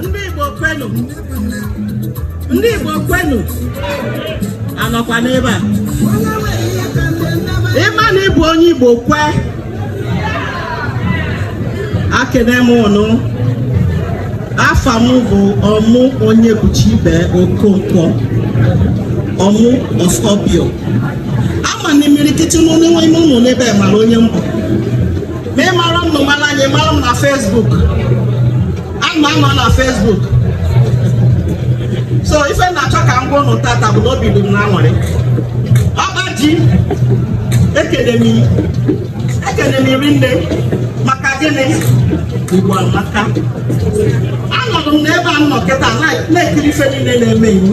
ndị Igbo kwenu ndị Igbo kwenu a nọkwa n'ebe a ị ma na ị bụ onye Igbo kwe ekene m ụnụ afa m bụ Ọmụ Onyebuchibe Okonkwo Ọmụ of Obior ama m na imirikiti n'ime ụnụ n'ebe a mara onye m bụ ma ị mara m na mara anyị mara m na Facebook ana m anọ na Facebook so ife m na-achọ ka m gwa ụnụ tata bụ na obi dị m na aṅụrị ọkpa ji ekele m ekele m rinne maka gịnị igbo amaka anọdụ m n'ebe m nọ kịta na-ekiri ife niile na-eme iwu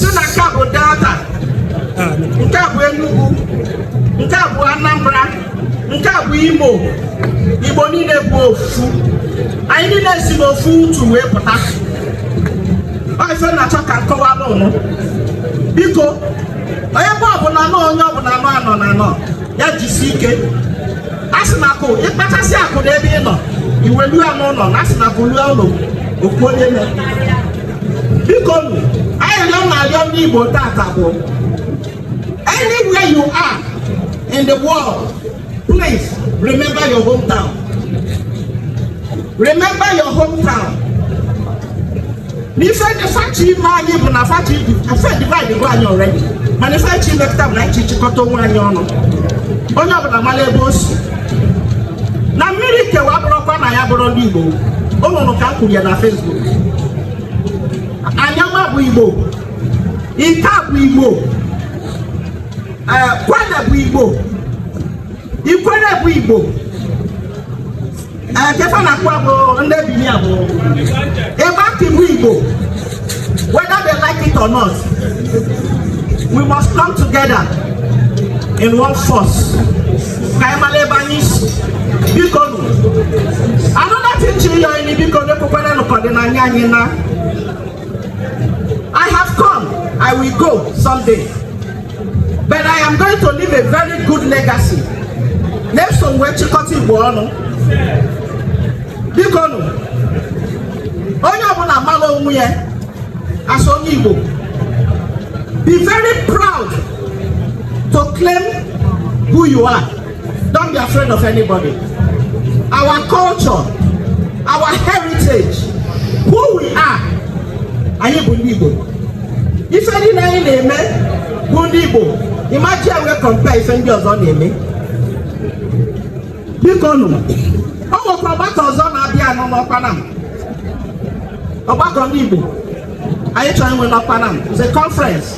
sị na nke a bụ delta nke a bụ enugu nke a bụ anambra nke a bụ imo igbo niile bụ ofu anyị niile si n'ofu utu wee pụta ọ ife m na-achọ ka m kọwara ụnụ biko onye bụ ọbụla nọ onye ọbụla nọ anọ na anọ ya jisi ike a sị na akụ ị kpatasịa akụ n'ebe ị nọ i welu ya n'ụlọ na a sị na akụ lue ụlọ o kwuo onye mere biko arịrịọ m na-arịọ ndị Igbo tata bụ anywhere you are in the world please remember your hometown remember your hometown n'ife ndị fa chọ ime anyị bụ na fa chọ fa e divide go anyị already mana ife a chọ ime kịta bụ na anyị chịkọta onwe anyị ọnụ onye ọbụla mara ebe o si na mmiri kewa abụrọkwa na anyị abụrọ ndị Igbo o nwere ka m kwuru ya na Facebook Anioma bụ Igbo Ika bụ Igbo Kwale bụ Igbo Ikwerre bụ Igbo ke fa na-akọ bụ ndị Benin bụ Igbanke bụ Igbo Whether they like it or not, we must come together in one force. Ka anyị mara ebe anyị si. Biko nụ. Another thing m chọ ịyọ anyị biko ekwekwana nụ ka ọdịnanị anyị naa. I have come, I will go someday. But I am going to leave a very good legacy. Na eso m wee chịkọta Igbo ọnụ. Biko nụ. onye ọbụla mara onwe ya as onye Igbo be very proud to claim who you are don't be afraid of anybody our culture our heritage who we are anyị bụ ndị Igbo ife niile anyị na-eme bụ ndị Igbo ị ma ji ya wee compare ife ndị ọzọ na-eme biko nụ ọ nwekwa ọgbakọ ọzọ na-abịanụ n'Ọkpanam ọgbakọ ndị Igbo anyị chọrọ inwe n'Ọkpanam it's a conference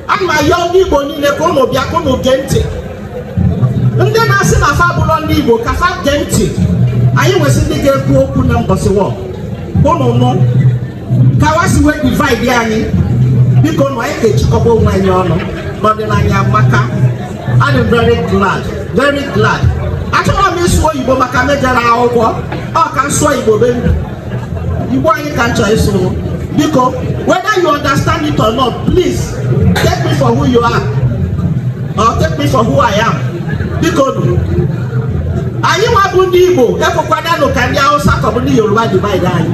a na-ayọ ndị Igbo niile ka ụnụ bịa ka ụnụ gee ntị ndị na-asị na fa abụrọ ndị Igbo ka fa gee ntị anyị nwesị ndị ga-ekwu okwu na mbọsị ahụ ka ụnụ nụ ka wa si wee divide anyị biko nụ anyị ga-ejikọba onwe anyị ọnụ n'ọdịnanya amaka adị m very glad very glad achọrọ m ịsụ oyibo maka m ejerọ akwụkwọ ọ ka m sụọ igbo bendel igbo anyị ka m chọrọ ịsụ biko whether you understand it or not please take me for who you are or take me for who I am biko anyị nwa bụ ndị igbo ekwekwananụ ka ndị hausa ka ọ bụ ndị yoruba divide anyị